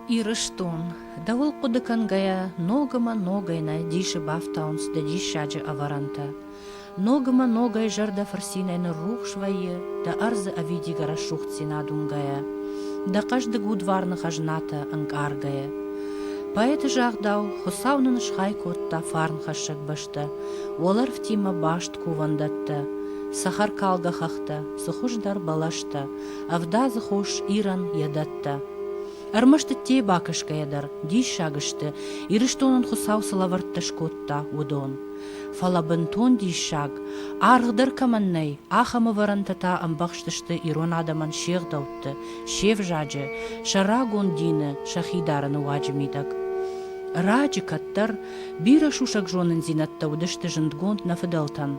Ирыстон. Дӕуыл хъуыды кӕнгӕйӕ, ног ӕмӕ ногӕй нӕ дисы бафтауынц дӕ диссаджы ӕвӕрӕнтӕ. Ног ӕмӕ ногӕй зӕрдӕ фырцинӕй ныррухс вӕййы дӕ ӕрдзы ӕвидигӕ рӕсугъддзинад уынгӕйӕ, дӕ хъӕздыг удварны хӕзнатӕ ӕнкъаргӕйӕ. Поэты загъдау, Хуыцау нын схай кодта фарнхӕссӕг бӕстӕ, уӕлӕрвтимӕ баст кувӕндӕттӕ, цӕхӕркалгӕ хӕхтӕ, цы хуыздӕр бӕлӕстӕ, ӕвдадзы хос Ирӕн йӕ дӕттӕ. Ӕрмӕст ӕддейы бакӕсгӕйӕ дӕр диссаг сты, Ирыстонӕн Хуыцау цы лӕвӕрттӕ скодта, уыдон. Фӕлӕ бынтон диссаг, аргъдӕр кӕмӕн нӕй, ахӕм ӕвӕрӕнтӕ та ӕмбӕхстысты ирон адӕмӕн се гъдӕутты, се взаджы, сӕ рагон дины, сӕхи дарыны уаджы мидӕг. Раджы кӕддӕр бирӕ сусӕг зонындзинӕдтӕ уыдысты зындгонд нӕ фыдӕлтӕн.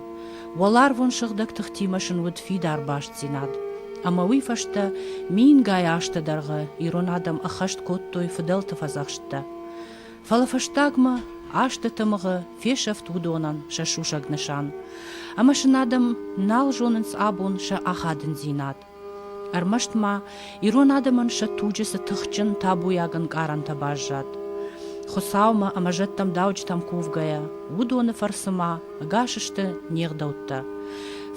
Уӕларвон сыгъдӕг тыхтимӕ сын уыд фидар бастдзинад. Ӕмӕ уый фӕстӕ мингай азты дӕргъы ирон адӕм ӕххӕст кодтой фыдӕлты фӕдзӕхсттӕ. Фӕлӕ фӕстагмӕ азты тымыгъы фесӕфт уыдонӕн сӕ сусӕг нысан, ӕмӕ сын адӕм нал зонынц абон сӕ ахадындзинад. Ӕрмӕст ма ирон адӕмӕн сӕ туджы цы тыхджын табуйаг ӕнкъарӕнтӕ баззад. Хуыцаумӕ ӕмӕ зӕдтӕм дауджытӕм кувгӕйӕ, уыдоны фӕрцы ма ӕгас сты не гъдӕуттӕ.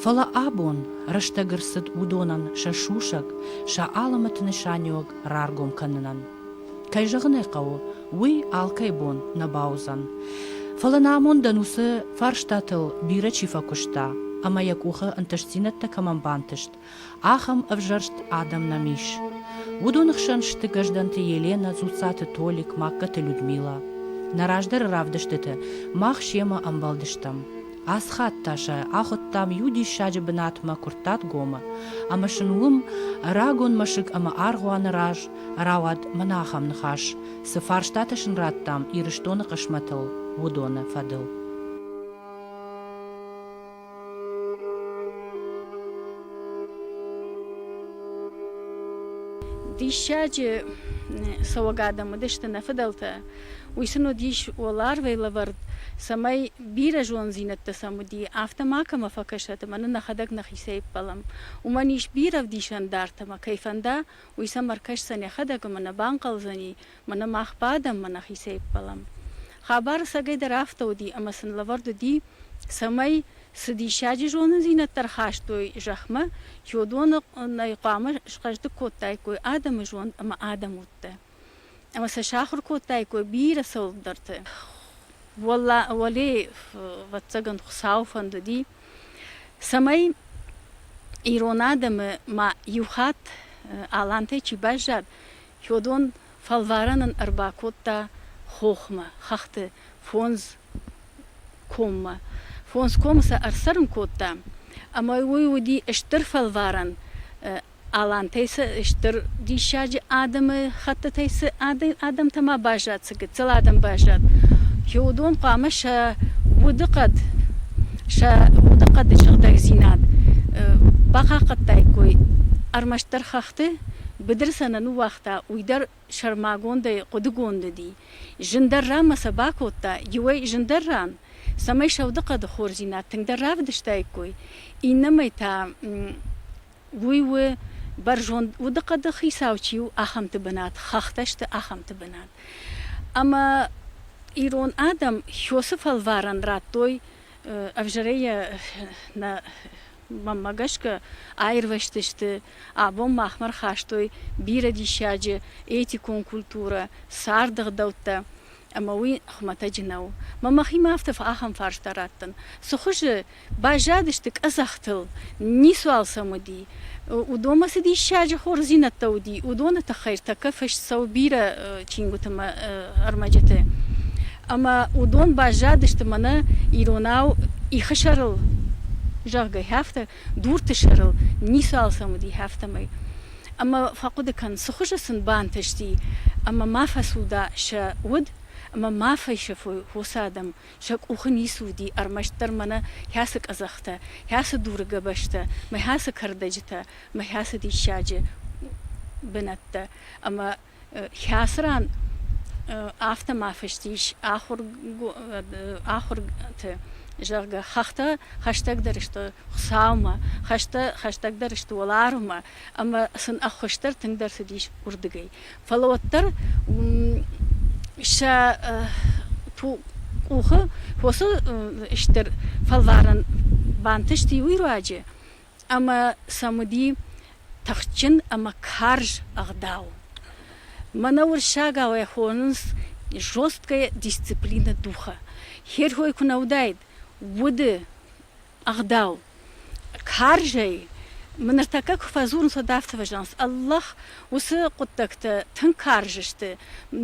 Фӕлӕ абон рӕстӕг ӕрцыд уыдонӕн сӕ сусӕг, сӕ алымӕты нысаниуӕг раргом кӕнынӕн. Кӕй зӕгъын ӕй хъӕуы, уый алкӕй бон нӕ бауыдзӕн. Фӕлӕ нӕ амондӕн уыцы фарстатыл бирӕ чи фӕкуыста ӕмӕ йӕ къухы ӕнтыстдзинӕдтӕ кӕмӕн бантыст, ахӕм ӕвзӕрст адӕм нӕм ис. Уыдоны хсӕн сты Гӕздӕнты Еленӕ, Дзуццаты Толик, Магкаты Людмилӕ. Нӕ раздӕры равдыстыты мах семӕ ӕмбӕлдыстӕм. Асхӕдта сӕ, ахуыдтам иу диссаджы бынатмӕ Куырттатгомы, ӕмӕ сын уым рагон мӕсыг ӕмӕ аргъуаны раз рауад мӕнӕ ахӕм ныхас, цы фарстатӕ сын радтам Ирыстоны хъысмӕтыл, уыдоны фӕдыл. Диссаджы цӕуӕг адӕм уыдысты нӕ фыдӕлтӕ. Уый сын уыдис уӕларвӕй лӕвӕрд, цӕмӕй бирӕ зондзинӕдтӕ сӕм уыди, афтӕ макӕмӕ фӕкӕсӕт ӕмӕ нын ӕхӕдӕг нӕхицӕй ӕппӕлӕм. Уымӕн ис бирӕ ӕвдисӕндартӕ ӕмӕ, кӕй фӕнда, уый сӕм ӕркӕсдзӕн йӕхӕдӕг ӕмӕ нӕ банхъӕлдзӕни, мӕнӕ мах бадӕм, мӕ нӕхицӕй ӕппӕлӕм. Хабар ӕцӕгӕй дӕр афтӕ уыди, ӕмӕ сын лӕвӕрд уыди, цӕмӕй, цы диссаджы зонындзинӕдтӕ ӕрхастой зӕхмӕ, чи уыдоны нӕй хъуамӕ схъӕздыг кодтаиккой адӕмы зонд ӕмӕ адӕмудтӕ. ӕмӕ сӕ сахуыр кодтаиккой бирӕ цӕуылдӕрты. Уӕле ӕвӕццӕгӕн Хуыцауы фӕндыди, цӕмӕй ирон адӕмы ма иу хатт алантӕй чи баззад, Хёдон фӕлварӕн ын ӕрбакодта хохмӕ, хӕхты фондз коммӕ. Фондз комы сӕ ӕрцӕрын кодта, ӕмӕ уый уыди стыр фӕлварӕн Алантӕй цы стыр диссаджы адӕмы хӕттытӕй цы адӕмтӕ ма баззад, цы гыццыл адӕм баззад, хи уыдон хъуамӕ сӕ удыхъӕд, сӕ удыхъӕды сыгъдӕгдзинад бахъахъхъӕдтаиккой. Ӕрмӕстдӕр хӕхты быдыры сӕ нӕ ныууагъта, уый дӕр сӕрмагондӕй хъуыдыгонд уыди. Зындӕр ранмӕ сӕ бакодта, иуӕй зындӕр ран, цӕмӕй сӕ удыхъӕды хорздзинад тынгдӕр равдыстаиккой, иннӕмӕй та Уый у бӕрзонд удыхъӕды хицау чи у, ахӕмты бынат, хӕхтӕ сты ахӕмты бынат. Ӕмӕ ирон адӕм Хёсы фӕлварӕн радтой, ӕвзӕрӕй йӕ нӕ мӕнмӕ гӕсгӕ аирвӕзтысты, абон махмӕ рхастой бирӕ диссаджы этикон культурӕ, царды гъдӕуттӕ. Ӕмӕ уый хуымӕтӕджы нӕу. Мӕ мӕхимӕ афтӕ ахӕм фарста раттын, цы хуызы баззадысты къӕдзӕхтыл, ницуал сӕм уыди, уыдонмӕ цы диссаджы хорздзинӕдтӕ уыди, уыдоны тыххӕй тӕккӕ фыст цӕуы бирӕ чингуыты мӕ ӕрмӕджыты. Ӕмӕ уыдон баззадысты мӕнӕ иронау ихы сӕрыл, зӕгъгӕ, афтӕ дурты сӕрыл ницы алцӕм уыди, афтӕмӕй. Ӕмӕ фӕхъуыды кӕн, цы хуызы сын бантысти, ӕмӕ ма фӕцуда сӕ уд, ӕмӕ ма фӕсӕфой хосы адӕм, сӕ къухы ницы уыди ӕрмӕстдӕр мӕнӕ хӕцы къӕдзӕхтӕ, хӕцы дуры гӕбӕзтӕ, мӕ хӕцы кӕрдӕджытӕ, мӕ хӕцы диссаджы бынӕттӕ ӕмӕ Хӕцы ран афтӕ ма фыст ис ахуырты, зӕгъгӕ, хӕхтӕ хӕстӕгдӕр сты Хуыцаумӕ, хӕстӕ хӕстӕгдӕр сты уӕларвмӕ ӕмӕ сын ӕххуысдӕр тынгдӕр цыдис уырдыгӕй. Фӕлӕ уӕддӕр сӕ къухы фосы стыр фӕлварӕн бантысти уый руаджы, ӕмӕ сӕм уыди тыхджын ӕмӕ карз ӕгъдау. Мӕнӕ уырыссагау хонынц жесткая дисциплина духа. Херхой куы нӕ уыдаид, уды ӕгъдау. Карзӕй мын ныртӕккӕ куы фӕдзурынц, уӕд афтӕ фӕзӕгъынц: Аллах, Уыцы хъуыддӕгтӕ тынг карз сты,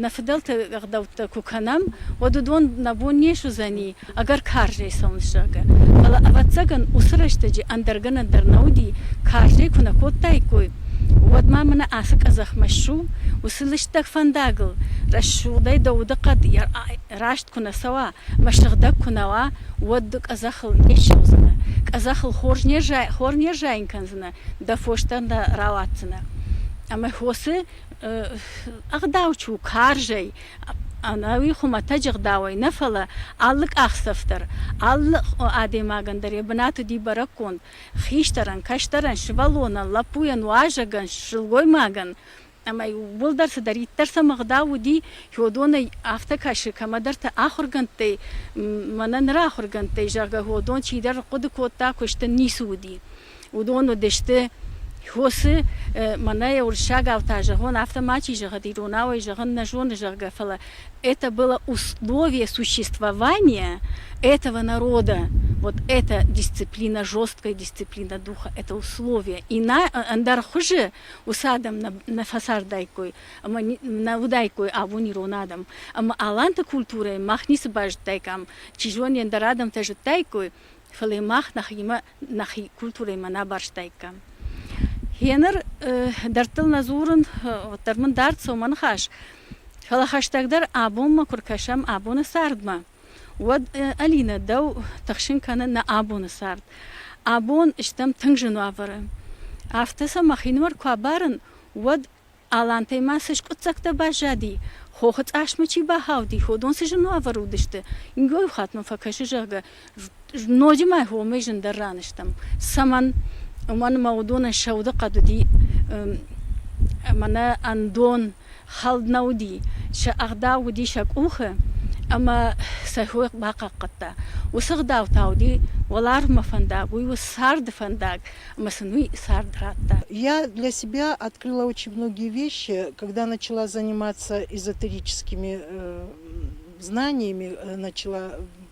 нӕ фыдӕлты ӕгъдӕуттӕ куы кӕнӕм, уӕд уыдон нӕ бон не суыдзӕни ӕгӕр карзӕй цӕуын зӕгъгӕ. Фӕлӕ, ӕвӕццӕгӕн, уыцы рӕстӕджы ӕндӕр гӕнӕн дӕр нӕ уыди, карзӕй куы нӕ кодтаиккой, уӕд ма мӕнӕ ацы къӕдзӕхмӕ ссу, уыцы лыстӕг фӕндагыл рӕсугъдӕй дӕ удыхъӕд раст куы нӕ цӕуа ӕмӕ сыгъдӕг куы нӕ уа, уӕд къӕдзӕхыл не ссӕудзынӕ, къӕдзӕхыл хор не рзайын кӕндзынӕ дӕ фостӕн дӕ рауадздзынӕ. Ӕмӕ хосы ӕгъдау чи у карзӕй, ӕнӕуи хуымӕтӕджы ӕгъдауӕй нӕ, фӕлӕ алы къахдзӕф дӕр, алы адӕймагӕн дӕр йӕ бынаты уыди бӕрӕггонд хистӕрӕн, кӕстӕрӕн, сывӕллонӕн, лӕппуйӕн, уазӕгӕн, сылгоймагӕн Ӕмӕ иууылдӕр цыдӕриддӕр сӕм ӕгъдау уыди, Хёдонӕй афтӕ кӕсы, кӕмӕдӕрты ахуыргӕндтӕй, мӕнӕ ныр ахуыргӕндтӕй, зӕгъгӕ, Хёдон чидӕр хъуыды кодта, куысты ницы уыди. Уыдон уыдысты Хосы, мӕнӕ йӕ уырыссагау та зӕгъон, афтӕ мачи зӕгъӕд, иронау ӕй зӕгъын нӕ зоны, зӕгъгӕ, фӕлӕ это было условие существования этого народа, вот эта дисциплина, жесткая дисциплина духа, это условие. Иная, ӕндӕр хуызы уыцы адӕм нӕ фӕцардаиккой ӕмӕ нӕ уыдаиккой абон ирон адӕм ӕмӕ аланты культурӕйы мах ницы базыдтаикам чи зоны ӕндӕр адӕмтӕ зыдтаиккой фӕлӕ мах нӕхимӕ нӕхи культурӕимӕ нӕ барстаиккам гъеныр дӕрдтыл нӕ дзурын уӕддӕр мын дард цоманыхас фӕлӕ хӕстӕгдӕр абонмӕ куы ркӕсӕм абоны цардмӕ уӕд, Алинӕ, дӕу тыхсын кӕны нӕ абоны цард. Абон стӕм тынг зын уавӕры. Афтӕ сӕ мӕхинымӕр куы абарын, уӕд Алантӕй ма цы скъуыддзӕгтӕ баззади, хохы цъасмӕ чи бахауди, ходон цы зын уавӕры уыдысты, ингоиу хатт мӕм фӕкӕсы, зӕгъгӕ, Ноджы ма хомӕй зындӕр ран стӕм. Цӕмӕн? Уымӕн ӕмӕ уыдонӕн сӕ удыхъӕд уыди ӕмӕ нӕ ӕндон хӕлд нӕ уыди. Сӕ ӕгъдау уыди сӕ къухы ӕмӕ сӕ хой бахъахъхъӕдта. Уыцы ӕгъдау та уыди уӕларвмӕ фӕндаг, уый у царды фӕндаг, ӕмӕ сын уый цард радта. Я для себя открыла очень многие вещи, когда начала заниматься эзотерическими знаниями, начала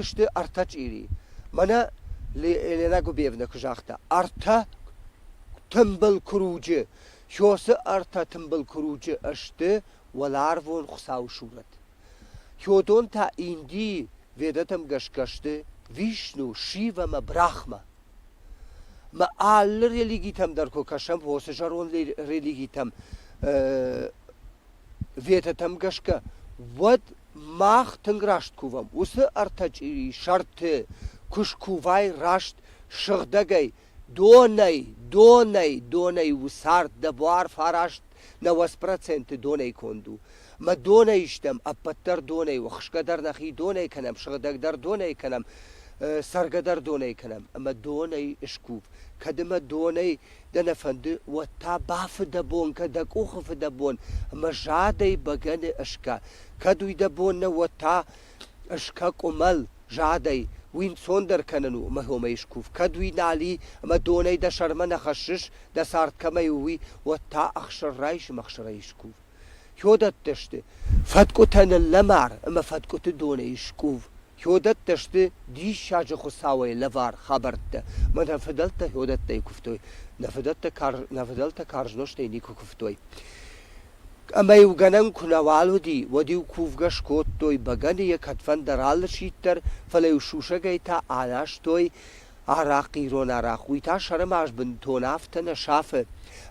Уыдысты ӕртӕ чъири. Мӕнӕ Елена Губевна куы загъта, ӕртӕ тымбыл куруджы, Хёсы ӕртӕ тымбыл куруджы сты уӕларвон Хуыцауы сурӕт. Хёдон та Индийы ведӕтӕм гӕсгӕ сты Вишну, Шив ӕмӕ Брахма. Мӕ алы религитӕм дӕр куы кӕсӕм, уыцы зӕронд религитӕм, ведӕтӕм гӕсгӕ, уӕд Мах тынг раст кувӕм уыцы ӕртӕ чъирийы сӕрты, куы скувай раст сыгъдӕгӕй, донӕй, донӕй, донӕй у цард, дӕ буар фараст нӕуӕдз проценты донӕй конд у. Мӕ донӕй истӕм, ӕппӕт дӕр донӕй у, хсгӕ дӕр нӕхи донӕй кӕнӕм, сыгъдӕг дӕр донӕй кӕнӕм, цӕргӕ дӕр донӕй кӕнӕм, ӕмӕ донӕй скув. Кӕд ӕмӕ донӕй дӕ нӕ фӕнды, уӕд та бафы дӕ бон кӕд дӕ къухы фыдӕбон ӕмӕ задӕй бӕгӕны ӕскӕ, кӕд уый дӕ бон нӕ, уӕд та ӕскӕ къуымӕл, задӕй, уый ӕнцондӕр кӕнын у ӕмӕ хомӕй скув, кӕд уый нал и ӕмӕ донӕй дӕ сӕрмӕ нӕ хӕссыс, дӕ цард кӕмӕй у, уый, уӕд та ӕхсыр райс ӕмӕ ӕхсырӕй скув. Хиодӕттӕ сты фӕткъуытӕ ныллӕмар ӕмӕ фӕткъуыты донӕй скъув. Хиодӕттӕ сты диссаджы хуыцауӕй лӕвар хабӕрттӕ. Мӕнӕ фыдӕлтӕ хиодӕттӕй куывтой. Нӕ фыдӕлтӕ карз, нӕ фыдӕлтӕ карз нозтӕй никуы куывтой. Ӕмӕ-иу гӕнӕн куы нӕуал уыди, уӕд-иу кувгӕ скодтой, бӕгӕныйӕ кӕдфӕндӕр алы сидт дӕр, фӕлӕ-иу сусӕгӕй та анӕзтой, Арахъ ирон арахъ, уый та сӕрымагъзбынтон афтӕ нӕ сафы,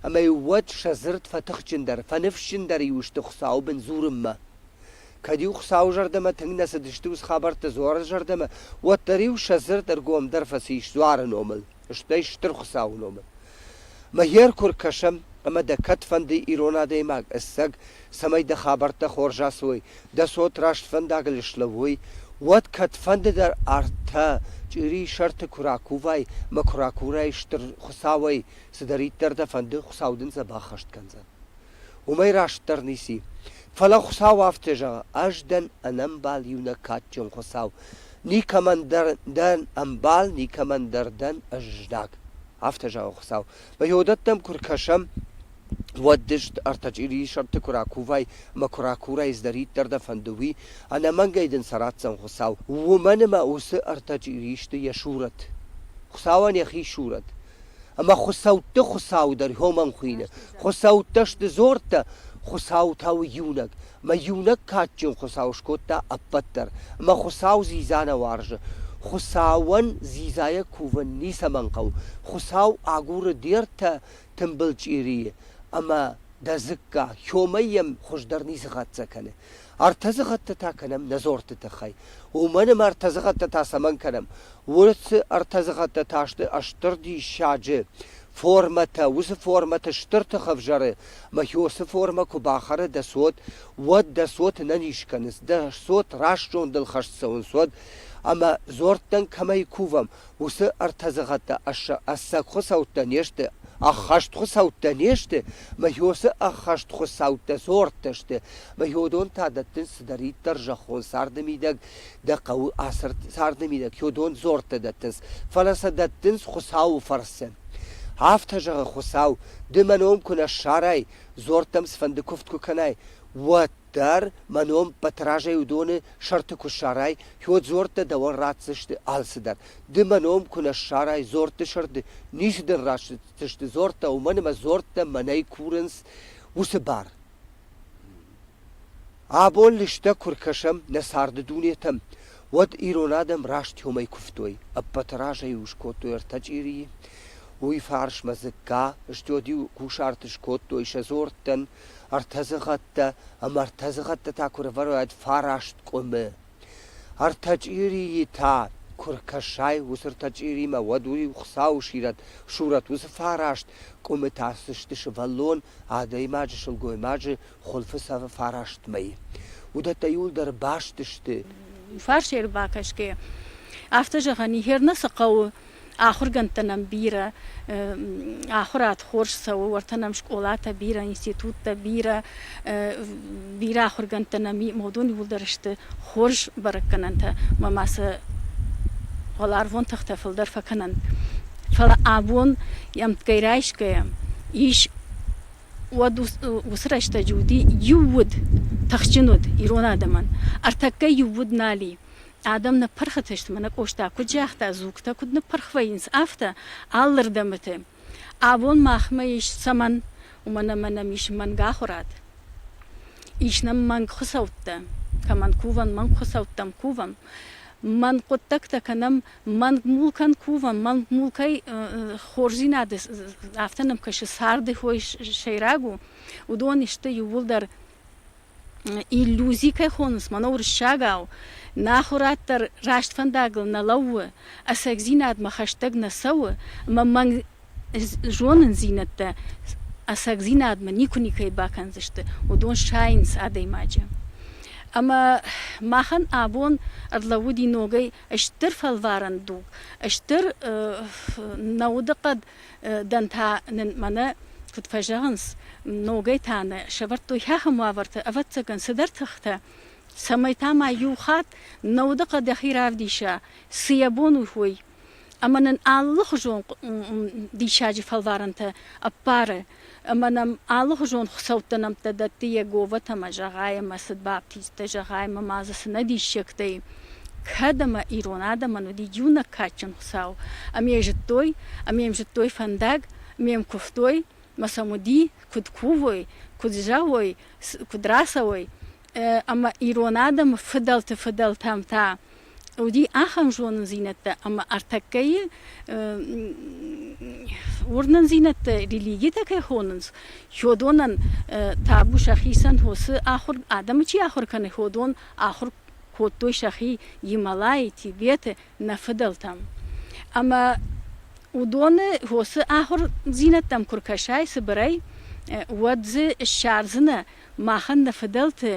ӕмӕ-иу уӕд сӕ дзырд фӕтыхджындӕр, фӕныфсджындӕр-иу сты Хуыцауы бын дзурынмӕ. Кӕд-иу Хуыцауы зӕрдӕмӕ тынг нӕ цыдысты ус хабӕрттӕ дзуары зӕрдӕмӕ, уӕддӕр-иу сӕ дзырд ӕргомдӕр фӕцис дзуары номыл, стӕй Стыр Хуыцауы номыл. Мӕхе ӕркур кӕсӕм, ӕмӕ дӕ кӕд фӕнды ирон адӕймаг ӕцӕг, цӕмӕй дӕ хабӕрттӕ хорз ацуой, дӕ цот раст фӕндагыл слӕууой, уӕд кӕдфӕнды дӕр ӕртӕ чъирийы сӕрты куы ракувай мӕ куы ракурай стыр Хуыцауӕй, цыдӕриддӕр дӕ фӕнды, Хуыцау дын дзӕбӕх хӕст кӕндзӕн. уымӕй растдӕр ници. Фӕлӕ Хуыцау афтӕ зӕгъы, Ӕз дӕн ӕнӕмбал иунӕг кадджын Хуыцау, никӕмӕн дӕр дӕн ӕмбал, никӕмӕн дӕр дӕн ӕздаг. Афтӕ зӕгъы Хуыцау. Мӕ йодӕттӕм куы ркӕсӕм, уӕд дыст ӕртӕ чъирийы сӕрты куы ракувай ӕмӕ куы ракурай, цыдӕриддӕр дӕ фӕнды, уый, ӕнӕмӕнгӕй дын сӕ ратдзӕн Хуыцау. Уымӕн ӕмӕ уыцы ӕртӕ чъири сты йӕ сурӕт. Хуыцауӕн йӕхи сурӕт. Ӕмӕ хуыцӕутты Хуыцау дӕр уымӕн хуины. Хуыцӕуттӕ сты дзорттӕ, Хуыцау та у иунӕг. Мӕ иунӕг кадджын Хуыцау скодта ӕппӕт дӕр, ӕмӕ Хуыцау дзидза нӕ уарзы. Хуыцауӕн дзидзайӕ кувын ницӕмӕн хъӕуы. Хуыцау агуры де ртӕ тымбыл чъирийы, ӕмӕ дӕ дзыкка, хьомӕй йӕм хуыздӕр ницы хӕццӕ кӕны. Ӕртӕдзыхӕдтӕ та кӕнӕм нӕ дзорты тыххӕй. Уымӕн ӕмӕ ӕртӕдзыхӕдтӕ та цӕмӕн кӕнӕм? Уыцы ӕртӕдзыхӕдтӕ та сты стыр диссаджы формӕтӕ. Уыцы формӕты стыр тых ӕвзӕры, ӕмӕ хи уыцы формӕ куы бахӕры дӕ цот, уӕд дӕ цоты нӕ низ кӕнынц. Дӕ цот раст зондыл хӕст цӕуынц уӕд. Ӕмӕ дзордтӕн кӕмӕй кувӕм, уыцы ӕртӕ зӕгъӕттӕ ӕцӕг хуыцӕуттӕ не сты, ӕххӕст хуыцӕуттӕ не сты, мӕ уыцы ӕххӕст хуыцӕуттӕ дзордтӕ сты, мӕ уыдон та дӕттынц цыдӕриддӕр зӕххон царды мидӕг дӕ хъӕуы ацы царды мидӕг, уыдон дзордтӕ дӕттынц, фӕлӕ сӕ дӕттынц Хуыцауы фӕрцы. Афтӕ зӕгъы Хуыцау, ды мӕ ном куы нӕ ссарай, дзордтӕм цыфӕнды куывд куы кӕнай, уӕд. Дӕр, мӕ ном Батразӕй уыдоны сӕрты куы ссарай, Хёдзорттӕ дӕуӕн ратдзысты алцыдӕр. Ды мӕ ном куы нӕ ссарай Дзортты сырды, ницы дын ратдзысты Дзорттӕ, уымӕн ӕмӕ Дзорттӕ мӕнӕй курынц уыцы бар. Абон лыстӕг куы ркӕсӕм нӕ царды дунетӕм, уӕд ирон адӕм раст хьомӕй куывтой, ӕппӕты разӕй-иу скодтой ӕртӕ чъирийы. Уый фарсмӕ дзыкка, стёд-иу кусарты скодтой сӕ дзорттӕн, Ӕртӕдзыгъӕдтӕ ӕмӕ ӕртӕдзыгъӕдты та куы рывӕрой фараст къуымы. Ӕртӕ чъирийы та куы ркӕсай уыцы ӕртӕ чъиримӕ, уӕд уый Хуыцауы сирӕт, сурӕт, уыцы фараст къуымы та сысты сывӕллон, адӕймаджы, сылгоймаджы хуылфы цӕвы фараст мӕй. Уыдӕттӕ иуылдӕр баст сты. Фарс ӕрбакӕсгӕ афтӕ зӕгъӕн и, Херна цы хъӕуы, Ахургӕндтӕ нӕм бирӕ, ахуырад хорз цӕуы, уӕртӕ нӕм скъолатӕ бирӕ, институттӕ бирӕ, бирӕ ахуыргӕндтӕ нӕм модон иууылдӕр сты хорз бӕрӕггӕнӕнтӕ, ӕмӕ ма сӕ уӕларвон тыхтӕ фылдӕр фӕкӕнӕнт. Фӕлӕ абон ӕмтгӕй райсгӕйӕ ис уӕд уыцы рӕстӕджы уыди иу уд, тыхджын уд ирон адӕмӕн. Ӕртӕккӕ иу уд нал и. Адӕм ныппырхытысты, мӕнӕ Къоста куыд загъта, дзугтӕ куыд ныппырх вӕййынц, афтӕ, алырдӕмыты. Абон махмӕ ис цӕмӕн? Уымӕн ӕмӕ нӕм ис мӕнгахуырад. Ис нӕм мӕнгхуыцӕуттӕ. Кӕмӕн кувӕм, мӕнгхуыцӕуттӕм кувӕм. Мӕнг хъуыддӕгтӕ кӕнӕм, мӕнг мулкӕн кувӕм, мӕнг мулкӕй хорздзинады афтӕ нӕм кӕсы, царды хой сӕйраг у. Уыдон сты иууылдӕр иллюзи кӕй хонынц, мӕнӕ уырыссагау, нӕ ахуырад дӕр раст фӕндагыл нӕ лӕууы, ӕцӕгдзинадмӕ хӕстӕг нӕ цӕуы, ӕмӕ мӕнг зонындзинӕдтӕ ӕцӕгдзинадмӕ никуы никӕй бакӕндзысты, уыдон сайынц адӕймаджы. Ӕмӕ махӕн абон ӕрлӕууыди ногӕй стыр фӕлварӕн дуг, стыр нӕ удыхъӕд Дӕн та нын мӕнӕ куыд фӕзӕгъынц, ногӕй та нӕ сӕвӕрдтой ахӕм уавӕрты, ӕвӕццӕгӕн, цыдӕр тыхтӕ, цӕмӕй та ма иу хатт нӕ удыхъӕд дӕхи равдиса, цы йӕ бон у, уый. Ӕмӕ нын алыхуызон диссаджы фӕлварӕнтӕ ӕппары ӕмӕ нӕм алыгъуызон хуыцӕуттӕ нӕмттӕ дӕтты Йеговӕтӕмӕ, зӕгъай ӕмӕ цыд баптисттӕ, зӕгъай ӕмӕ ма дзы цы нӕ диссӕгтӕй кӕд ӕмӕ ирон адӕмӕн уыди иунӕг кадджын Хуыцау, ӕмӕ йӕ зыдтой, ӕмӕ йӕм зыдтой фӕндаг, ӕмӕ йӕм куывтой, ӕмӕ сӕм уыди, куыд кувой, куыд зӕгъой, куыд рацӕуой, ӕмӕ ирон адӕмы фыдӕлты фыдӕлтӕм та уыди ахӕм зонындзинӕдтӕ ӕмӕ ӕртӕккӕйы уырнындзинӕдтӕ религитӕ кӕй хонынц ходонӕн табу сӕхицӕн хосы ахуыр адӕмы чи ахуыр кӕны ходон ахуыр кодтой сӕхи гималайы тибеты нӕ фыдӕлтӕм ӕмӕ уыдоны хосы ахуырдзинӕдтӕм куы ркӕсай цыбырӕй уӕд дзы ссардзынӕ махӕн нӕ фыдӕлты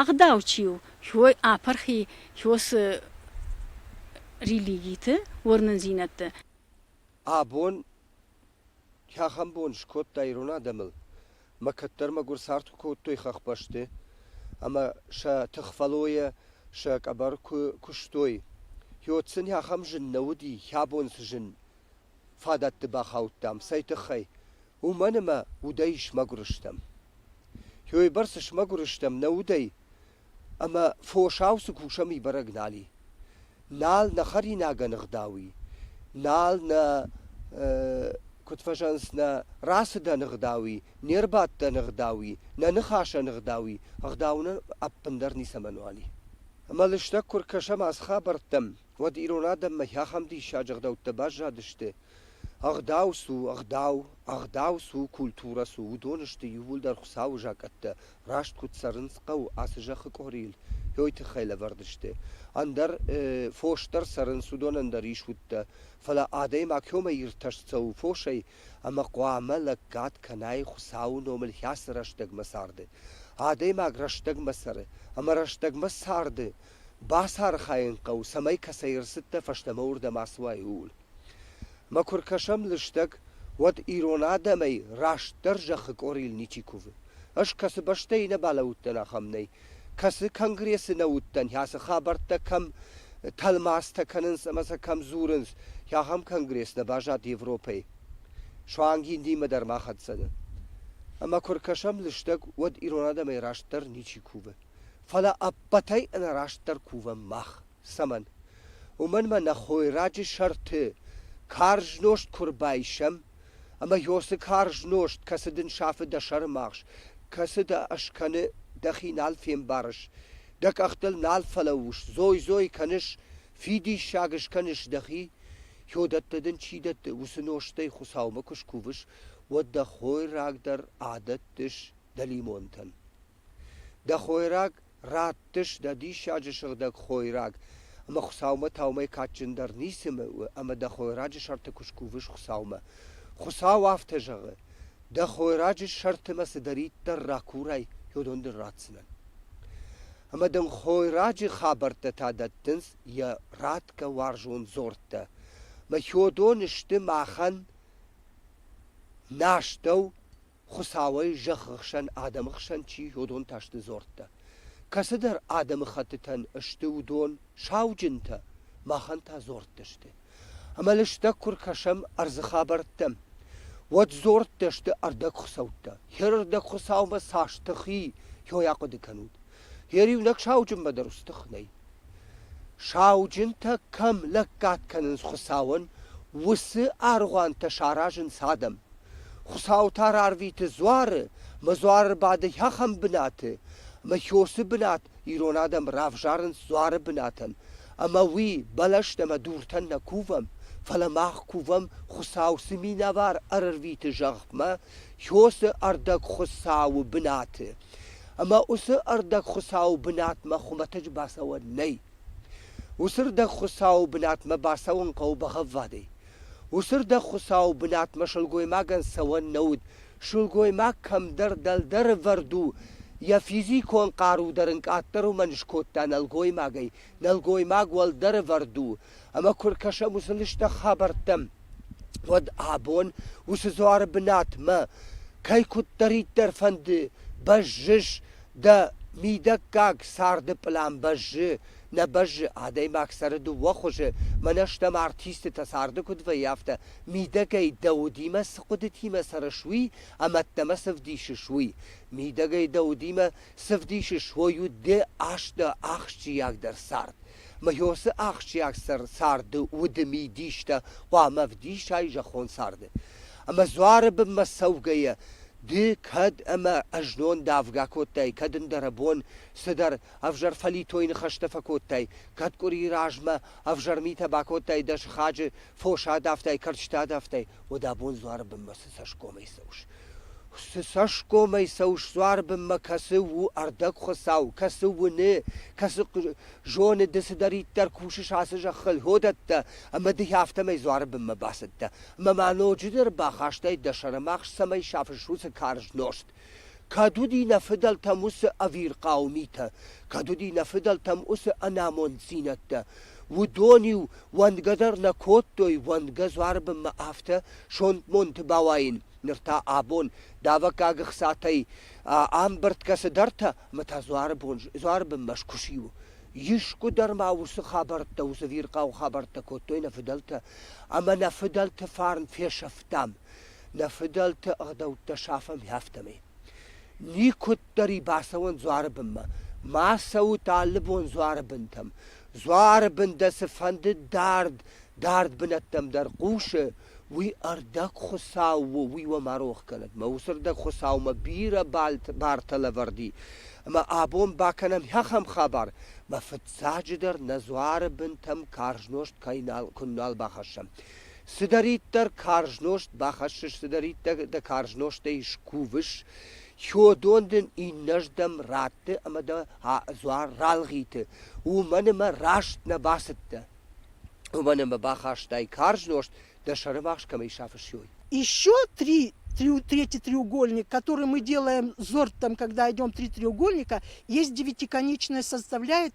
ӕгъдау чи у, хой ӕпӕрхи, хёсы религиты, уырнындзинӕдты. Абон кӕхӕм бон скодта ирон адӕмыл, мӕ кӕддӕр-мӕгуыр цард куы кодтой хӕхбӕсты ӕмӕ сӕ тыхфӕллойӕ сӕ къӕбӕр куы куыстой. Хёд сын ахӕм зын нӕ уыди, хӕбон цы зын, фадӕтты бахаудтам, цӕй тыххӕй? Уымӕн ӕмӕ удӕй смӕгуыр стӕм. Ёйбӕрц смӕгуыр стӕм нӕ удӕй, ӕмӕ фосау цы кусӕм и бӕрӕг нал и. Нал нӕ хӕринагӕн ӕгъдау и, нал нӕ, куыд фӕзӕгъынц, нӕ рацыдӕн ӕгъдау и, не рбадтӕн ӕгъдау и, нӕ ныхасӕн ӕгъдау и, ӕгъдау нын ӕппындӕр ницӕмӕнуал и. Ӕмӕ лыстӕг куы ркӕсӕм ацы хабӕрттӕм, уӕд ирон адӕммӕ ахӕм диссаджы ӕгъдӕуттӕ баззадысты, ӕгъдау цы у, ӕгъдау, ӕгъдау цы у, культурӕ цы у, уыдон сты иууылдӕр Хуыцауы закъӕттӕ, раст куыд цӕрынц хъӕуы ацы зӕххы къорийыл, уый тыххӕй лӕвӕрд сты. Ӕндӕр фос дӕр цӕрынц, уыдонӕн дӕр ис удтӕ, фӕлӕ адӕймаг кӕмӕй иртӕст цӕуы фосӕй ӕмӕ хъуамӕ лӕггад кӕнай Хуыцауы номыл хӕцы рӕстӕгмӕ царды. Адӕймаг рӕстӕгмӕ цӕры, ӕмӕ рӕстӕгмӕ царды Бацархайын хъӕуы, цӕмӕй кӕцӕй ӕрцыдтӕ фӕстӕмӕ уырдӕм ацуай, ууыл. Мӕ куы ркӕсӕм лыстӕг, уӕд ирон адӕмӕй растдӕр зӕххы къорийыл ничи кувы. Ӕз кӕцы бӕстӕйы нӕ балӕууыдтӕн, ахӕм нӕй. Кӕцы конгрессы нӕ уыдтӕн, ӕцы хабӕрттӕ кӕм тӕлмацтӕ кӕнынц ӕмӕ сӕ кӕм дзурынц, ахӕм конгресс нӕ баззад Европӕйы. Суанг Индимӕ дӕр ма хӕццӕ нӕ. Ӕмӕ куы ркӕсӕм лыстӕг, уӕд ирон адӕмӕй растдӕр ничи кувы. фӕлӕ ӕппӕтӕй ӕнӕрастдӕр кувӕм мах. Цӕмӕн? Уымӕн мӕ нӕ хойраджы сӕрты карз нозт куы рбайсӕм, ӕмӕ ёсы карз нозт, кӕцы дын сафы дӕ сӕрымагъз, кӕцы дӕ скӕны, дӕхи нал фембарыс, дӕ къӕхтыл нал фӕлӕууыс, дзой-дзой кӕныс, фидиссаг скӕныс дӕхи, Хё дӕтты дын чи дӕтты, уыцы нозтӕй Хуыцаумӕ куы скувыс, уӕд дӕ хойраг дӕр адӕттыс дӕлимонтӕн. Дӕ хойраг раттыс дӕ диссаджы сыгъдӕг хойраг, ӕмӕ Хуыцаумӕ таумӕ кадджындӕр ницы у ӕмӕ дӕ хойраджы сӕрты куы скувыс Хуыцаумӕ. Хуыцау афтӕ зӕгъы: дӕ хойраджы сӕрты мӕ цыдӕриддӕр ракурай, уыдон дын ратдзынӕн. Ӕмӕ дын хойраджы хабӕрттӕ та дӕттынц йӕ ратгӕ уарзон дзорттӕ. Мӕ хьодон сты махӕн нӕ астӕу, Хуыцауӕй зӕххы хсӕн адӕмы хсӕн чи йодонтӕ сты дзордтӕ, кӕцыдӕр адӕмыхӕттытӕн сты уыдон сауджынтӕ, махӕн та дзордты сты. Ӕмӕ лыстӕг куы ркӕсӕм ӕрдзы хабӕрттӕм, уӕд дзордтӕ сты ӕрдӕгхуыцӕуттӕ. Йе рдӕг Хуыцаумӕ цас тых и, йой ахъуыды кӕнут. Йе риунӕг сауджынмӕ дӕр ус тых нӕй. Сауджынтӕ кӕм лӕггад кӕнынц Хуыцауӕн, уыцы аргъуантӕ саразынц адӕм. Хуыцау та рарвиты дзуары, мӕ дзуары бады ахӕм бынаты, мӕ хёсы бынат ирон адӕм равзарынц дзуары бынатӕн, ӕмӕ уый бӕлӕсты ӕмӕ дуртӕн нӕ кувӕм, фӕлӕ мах кувӕм, Хуыцау цы минӕвар ӕрӕрвиты зӕхмӕ Хёсы ӕрдӕгхуыцауы бынаты. Ӕмӕ уыцы ӕрдӕгхуыцауы бынатмӕ хуымӕтӕджы бацӕуӕн нӕй. Уыцы ӕрдӕгхуыцауы бынатмӕ бацӕуын хъӕуы бӕгъӕввадӕй. Уыцы ӕрдӕгхуыцауы бынатмӕ сылгоймагӕн цӕуӕн нӕ уыд. Сылгоймаг кӕмдӕр дӕлдӕры вӕрд у, йӕ физикон хъару дӕр ын къаддӕр уымӕн скодта нӕлгоймагӕй. Нӕлгоймаг уӕлдӕры вӕрд у, ӕмӕ куы ркӕсӕм уыцы лыстӕг хабӕрттӕм, уӕд абон уыцы дзуары бынатмӕ кӕй куыддӕриддӕр фӕнды бӕззыс, дӕ мидӕггаг царды пълан бӕззы, нӕ бӕззы, адӕймаг цӕры дыууӕ хуызы, мӕнӕ стӕм артистытӕ царды куыд вӕййы, афтӕ, мидӕгӕй дӕ удимӕ цы хъуыдытимӕ цӕрыс, уый ӕмӕ ӕддӕмӕ цы вдисыс, уый, мидӕгӕй дӕ удимӕ цы вдисыс, уой у ды аст дӕ ахсджиагдӕр цард. Мыхьосы ахсджиаг царды уды мидистӕ хъуамӕ вдисай зӕххон царды. Ӕмӕ дзуары бынмӕ цӕугӕйӕ, ды кӕд ӕмӕ ӕзнон давгӕ кодтай, кӕд ӕндӕр бон цыдӕр ӕвзӕр фӕлитойы ныхӕстӕ фӕкодтай, кӕд къуырийы размӕ ӕвзӕр митӕ бакодтай дӕ сыхаджы, фос адавтай, кӕрчытӕ адавтай, уӕд абон дзуары бынмӕ цы цӕсгомӕй цӕуыс? Цы цӕсгомӕй цӕуыс дзуары бынмӕ, кӕцы у ӕрдӕгхуыцау, кӕцы уыны, кӕцы зоны ды цыдӕриддӕр кусыс ацы зӕххыл, уыдӕттӕ, ӕмӕ дыхи афтӕмӕй дзуары бынмӕ бацыдтӕ. Ӕмӕ ма ноджыдӕр бахастай дӕ сӕрымагъз цӕмӕй сафыс уыцы карз нозт. Кӕд уыди нӕ фыдӕлтӕм уыцы ӕвирхъау митӕ, кӕд уыди нӕ фыдӕлтӕм уыцы ӕнамонддзинӕдтӕ, уыдон-иу уӕнгӕ дӕр нӕ кодтой уӕнгӕ дзуарбынмӕ афтӕ сонтмонты бауайын, ныр та абон давӕггаг ӕхцатӕй ӕмбырдгӕ цыдӕртӕ ӕмӕ та дзуарбон дзуарбынмӕ скуыси у. Искуы дӕр ма уыцы хабӕрттӕ, уыцы ӕвирхъау хабӕрттӕ кодтой нӕ фыдӕлтӕ, ӕмӕ нӕ фыдӕлты фарн фесӕфтам. Нӕ фыдӕлты ӕгъдӕуттӕ сафӕм афтӕмӕй. Никуыддӕр-и бацӕуӕн дзуары бынмӕ, ма цӕут алы бон дзуары бынтӕм. Дзуары бын дӕ цыфӕнды дард, дард бынӕттӕм дӕр хъусы, уый ӕрдӕг Хуыцау у, уый уӕ ма рох кӕнӕд. Мӕ уыцы ӕрдӕг Хуыцаумӕ бирӕ бартӕ лӕвӕрди, ӕмӕ абон бакӕнӕм ахӕм хабар, мӕ фыццаджыдӕр нӕ дзуары бынтӕм карз нозт кӕй нал, куы нал бахӕссӕм. Цыдӕриддӕр карз нозт бахӕссыс, цыдӕриддӕр дӕ карз нозтӕй скувыс, хиодон дын иннӕрдӕм ратты ӕмӕ дӕ дзуар ралгъиты. Уымӕн ӕмӕ раст нӕ бацыдтӕ. Уымӕн ӕмӕ бахастай карз нозт, дӕ сӕрымагъз кӕмӕй сафыссой. Еще три, три, третий треугольник, который мы делаем зортом, когда идем три треугольника, есть девятиконечная составляет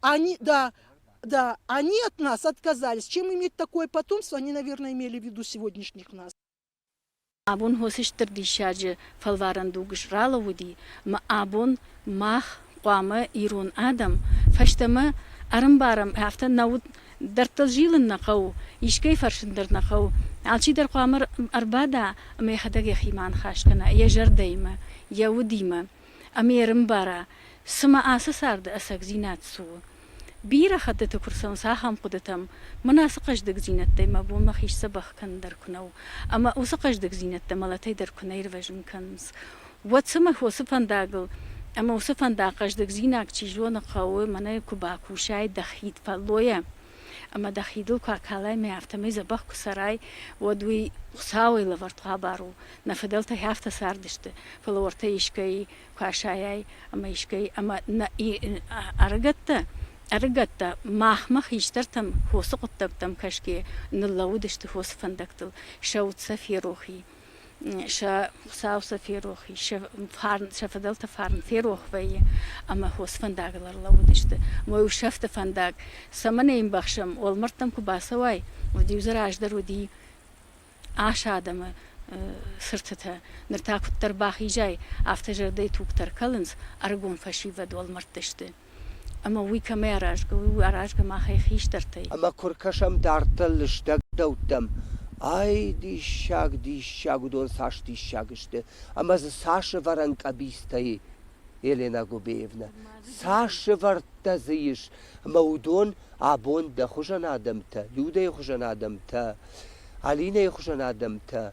Они, да, да, они от нас отказались. Чем иметь такое потомство, они, наверное, имели в виду сегодняшних нас. Абон хосыстыр диссаджы фӕлварӕн дугыс ралауди, ма абон мах хъуамӕ ирон адӕм фӕстӕмӕ ӕрымбарӕм, афтӕ нӕ уд дӕрдтыл зилын нӕ хъӕуы, искӕй фӕрсын дӕр нӕ хъӕуы. Алчидӕр хъуамӕ ӕрбада ӕмӕ йӕхӕдӕг йӕхимӕ аныхас кӕна йӕ зӕрдӕимӕ, йӕ удимӕ. ӕмӕ ӕрымбара, цымӕ ацы царды ӕцӕгдзинад цы у. Бирӕ хӕттыты куы рцӕуынц ахӕм хъуыдытӕм, мӕн ацы хъӕздыгдзинӕдтӕй мӕ бонмӕ хист дзӕбӕх кӕнын дӕр куы нӕу, ӕмӕ уыцы хъӕздыгдзинӕдтӕ мӕлӕтӕй дӕр куы нӕ ирвӕзын кӕнынц, уӕд цымӕ уыцы фӕндагыл ӕмӕ уыцы фӕндаг хъӕздыгдзинад, чи зоны, хъӕуы, мӕнӕ куы бакусай дӕ хид фӕллойӕ, ӕма дӕ хидыл ку акалаймӕ, афтӕмӕй дзӕбӕх куы цӕрай, уӕд уый Хуыцауӕй лӕвӕрд хъӕбӕр у. Нӕ фыдӕлтӕй афтӕ цардысты, фӕлӕ уӕртӕ искӕй куы асайай ӕмӕ искӕй ӕмӕ нӕ ӕрыгӕттӕ ӕрыгӕттӕ махмӕ хистӕртӕм хосы хъуыддӕгтӕм кӕсгӕ ныллӕууыдысты хосы фӕндӕгтыл, сӕ уд сӕ ферох и. сӕ хуыцау сӕ ферох ис сӕ фарн сӕ фыдӕлты фарн ферох вӕййы ӕмӕ хос фӕндагыл ӕрлӕууыдысты мой усӕфты фӕндаг цӕмӕн ӕй ӕмбӕхсӕм уӕлмӕрдтӕм куы бацӕуай уӕд-иу дзы раздӕр уыди ас адӕмы цыртытӕ ныр та куыддӕр бахизай афтӕ зӕрдӕйы тугтӕ ӕркӕлынц ӕрыгон фӕсивӕд уӕлмӕрдты сты ӕма уый кӕмӕй аразгӕ, уый аразгӕ махӕй хистӕртӕй. Ӕма куы ркӕсӕм дарддӕр лыстӕгдӕуттӕм, ай, диссаг, диссаг, уыдон цас диссаг сты, ӕмӕ дзы цас ӕвӕрӕн къӕбицтӕ и, Елена Губеевнӕ, цас ӕвӕрдтӕ дзы ис, ӕмӕ уыдон абон дӕ хуызӕн адӕмтӕ, Людӕйы хуызӕн адӕмтӕ, Алинӕйы хуызӕн адӕмтӕ